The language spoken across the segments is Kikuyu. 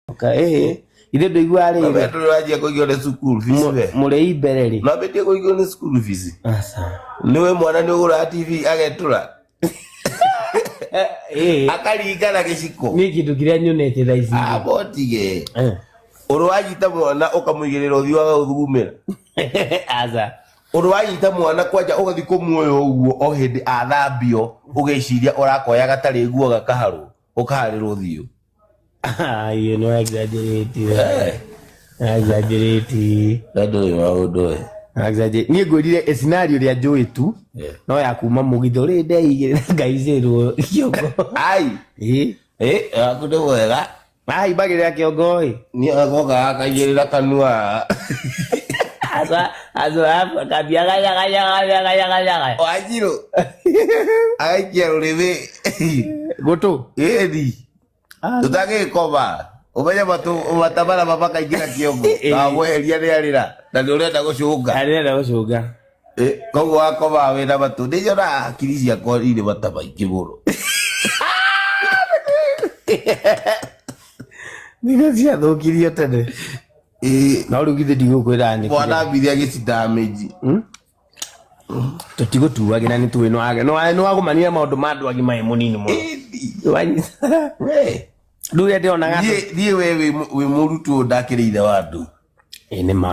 okay ithe ndũigua rĩrĩ Wendo ũranjia kũigio nĩ school fees Mũ- we. mũrĩi mbere rĩ Nambĩtie kũigio nĩ school fees. Aca. Nĩwe mwana nĩ ũgũraga TV agetũra. Eh, eh, Akaringa na gĩciko. niĩ kĩndũ kĩrĩa nyonete thaa ici Ah, botige. Eh. Ũrũ wanyita mwana ũkamũigĩrĩra ũthiũ waga ũthugumĩra. aca Ũrũ wanyita mwana kwanja ũgathi kũmuoya ũguo o hĩndĩ athambio ũgĩciria ũrakoya gatarĩ nguo gakaharwo ũkaharĩrwo ũthiũ. Ah, you know exaggerate. Hey. Exaggerate. That do you all do it. Exaggerate. Niĩ ngwĩrire ĩ scenario rĩa njũĩ tu Yeah. no ya kuma mũgitho rĩ ndeigĩrĩ na ngaicĩrwo kĩongo Ai. Ĩ, Eh, aku nĩ wega. ahimbagĩrĩra kĩongo ĩ Niĩ agoka akaigĩrĩra kanua. aca aca akambia gayagayagayagayagayaga Wanjirũ. Agaikia rũrĩmĩ. gå tå ĩri tũtagĩkoba ũmenye matũ- matabara mabakaingĩra kĩongo Eh. na gweheria rĩarĩra na nĩ ũrenda gũcũnga arenda gå cånga Eh, koguo wakoba wĩ na matũ nĩ nyonaga hakiri ciakwa irĩ mata maingĩ mũno nä ciathå kirio tene Eh, no rä u githä ndigå kwä ra nä mwana mbiri agĩcindaga mĩnji tũtigũtuagĩra nĩ tũĩ nĩ wagũmanire maũndũ ma andũ agima ĩ mũnini mũno rĩu rĩa ndĩronaga thiĩ we wĩ mũrutwo ndakĩrĩ ithe wa andũ ĩ nĩ ma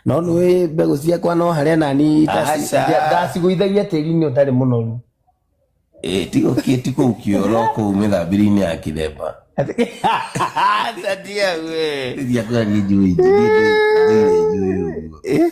no nĩ wĩ mbegũ ciakwa no harĩa nani ndacigũithagia tĩri-inĩ ũtarĩ mũnoru ti kũu kĩoro kũu mĩthambĩri-inĩ ya kĩthemba Sadia we. Dia kau lagi jui. Dia dia dia.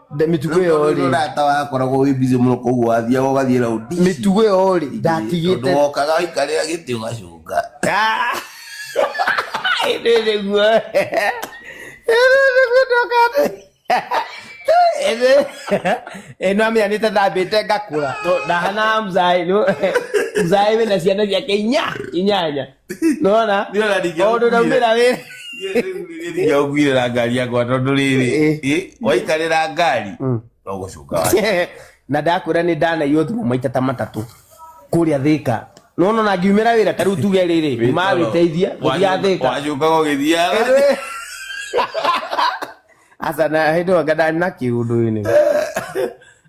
Nda- mĩtugo ĩyo Tondũ rĩ rata wakoragwo wĩ busy mũno koguo wathiaga ũgathiĩ raũndi ici. mĩtugo ĩyo rĩ Tondũ ndatigĩte wokaga waikarĩra gĩtĩ ũgacũnga Ah! Ĩndĩ nĩguo Ĩndĩ nĩguo ndokate Ĩndĩ ĩno amenya nĩ tathambĩte ngakũra To- ndahana mzaĩ nĩ- mzaĩ wĩna ciana ciake inya inyanya nona Ndio na ndio. maundu naumira wira Ndio na ngari yakwa tondu riri. Eh, waikarira ngari. Mm. No gucuka wa. na ndakwira ni ndanaiywo thimo maita ta matatu kuria thika nona na ngiumira wira tariu tuge riri nyuma witeithia guthia thika Wacuka gugithiaga. asa na hindu anga ndani na kiundu ini